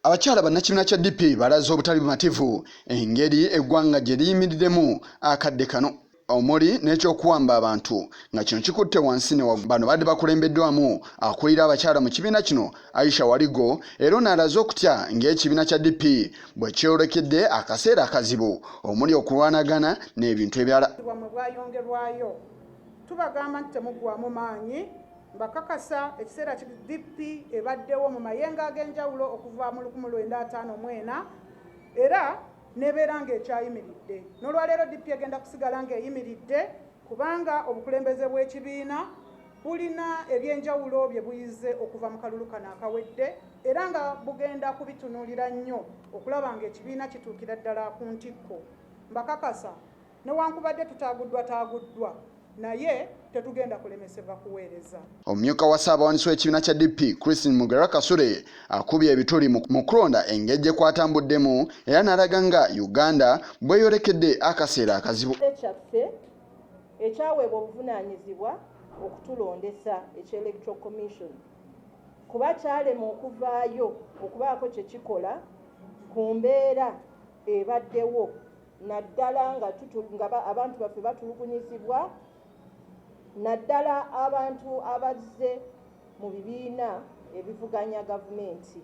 Abakyala bannakibiina kya DP balaze obutali bumativu engeri eggwanga gye liyimiriddemu akadde kano omuli n'ekyokuwamba abantu nga kino kikutte wansi ne bano badde bakulembeddwamu akulira abakyala mu kibiina kino aisha waligo era ono alaze okutya ng'ekibiina kya dp bwe kyolekedde akaseera akazibu omuli okulwanagana n'ebintu ebirala tubagamba nti temuggwamu maanyi Mbakakasa ekiseera ki DP ebaddewo mu mayenga ag'enjawulo okuva mu lukumi lwenda ataano mu ena era nebeera ng'ekyayimiridde n'olwaleero DP egenda kusigala ng'eyimiridde kubanga obukulembeze bw'ekibiina bulina ebyenjawulo bye buyize okuva mu kalulu kano akawedde era nga bugenda kubitunuulira nnyo okulaba ng'ekibiina kituukira ddala ku ntikko mbakakasa Newankubadde tutaaguddwataaguddwa naye tetugenda kulemesebwa kuweereza. Omumyuka wa Ssaabawandiisi w'ekibiina kya DP, Christine Mugera Kasule akubye ebituli mu kulonda engeri gye kwatambuddemu era n'alaga nga Uganda bw'eyolekedde akaseera akazibu. kyaffe ekyaweebwa obuvunaanyizibwa okutulondesa ekya Electoral Commission kuba kyalema okuvaayo okubaako kye kikola ku mbeera ebaddewo naddala nga abantu baffe batulugunyizibwa naddala abantu abazze mu bibiina ebivuganya gavumenti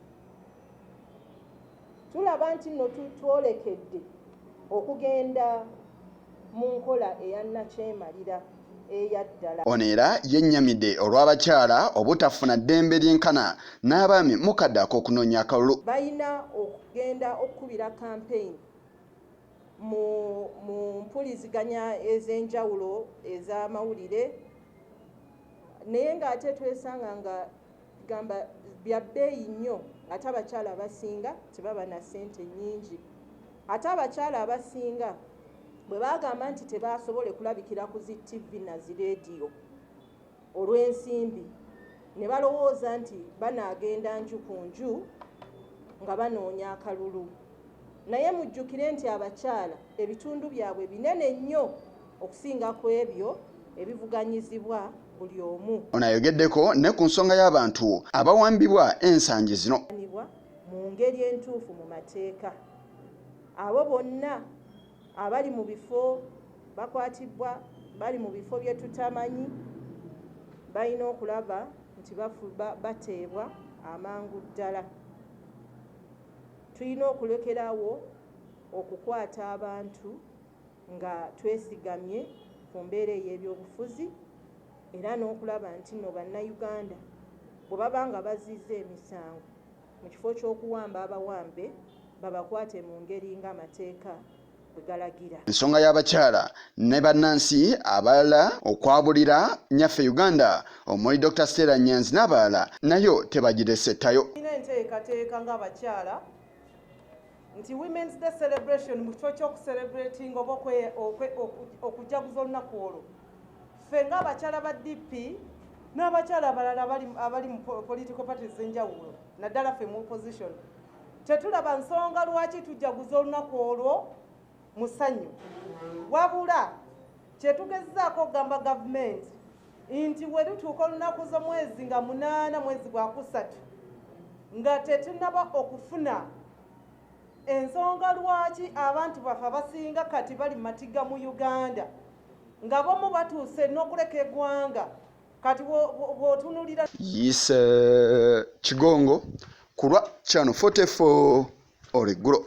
tulaba nti nno twolekedde okugenda mu nkola eya nakyemalira ono era yennyamidde olw'abakyala obutafuna ddembe lyenkana n'abaami mukadde ak'okunoonya akalulu balina okugenda okukubira kampeyini mu mu mpuliziganya ez'enjawulo ez'amawulire naye ng'ate twesanga nga gamba bya bbeeyi nnyo ate abakyala abasinga tebaba na ssente nnyingi ate abakyala abasinga bwe bagamba nti tebaasobole kulabikira ku zi ttivi na zi leediyo olw'ensimbi ne balowooza nti banaagenda nju ku nju nga banoonya akalulu naye mujjukire nti abakyala ebitundu byabwe binene nnyo okusinga ku ebyo ebivuganyizibwa buli omu ono ayogeddeko ne ku nsonga y'abantu abawambibwa ensangi zino mu ngeri entuufu mu mateeka abo bonna Abali mu bifo bakwatibbwa bali mu bifo bye tutamanyi, balina okulaba nti bateebwa amangu ddala. Tulina okulekerawo okukwata abantu nga twesigamye ku mbeera ey'ebyobufuzi era n'okulaba nti nno Bannayuganda bwe baba nga bazizza emisango, mu kifo ky'okuwamba abawambe babakwate mu ngeri ng'amateeka ensonga y'abakyala ne bannansi abalala okwabulira nyaffe uganda omuli dr stella nyanzi n'abalala nayo tebagirese ttayo enteekateeka ng'abakyala nti women's day celebration mu kifo ky'okucelebrating oba okujaguza olunaku olwo ffe ng'abakyala ba dp n'abakyala abalala abali mu political parties enjawulo naddala ffe mu opposition tetulaba nsonga lwaki tujaguza olunaku olwo musanyu wabula kyetugezaako okugamba gavumenti nti werutuuka olunaku z'omwezi nga munaana mwezi gwakusatu nga tetunaba okufuna ensonga lwaki abantu baffe abasinga kati bali matiga mu uganda nga bomu batuuse n'okuleka egwanga kati bwotunulira yes uh, kigongo kulwa chano 44 oreggulo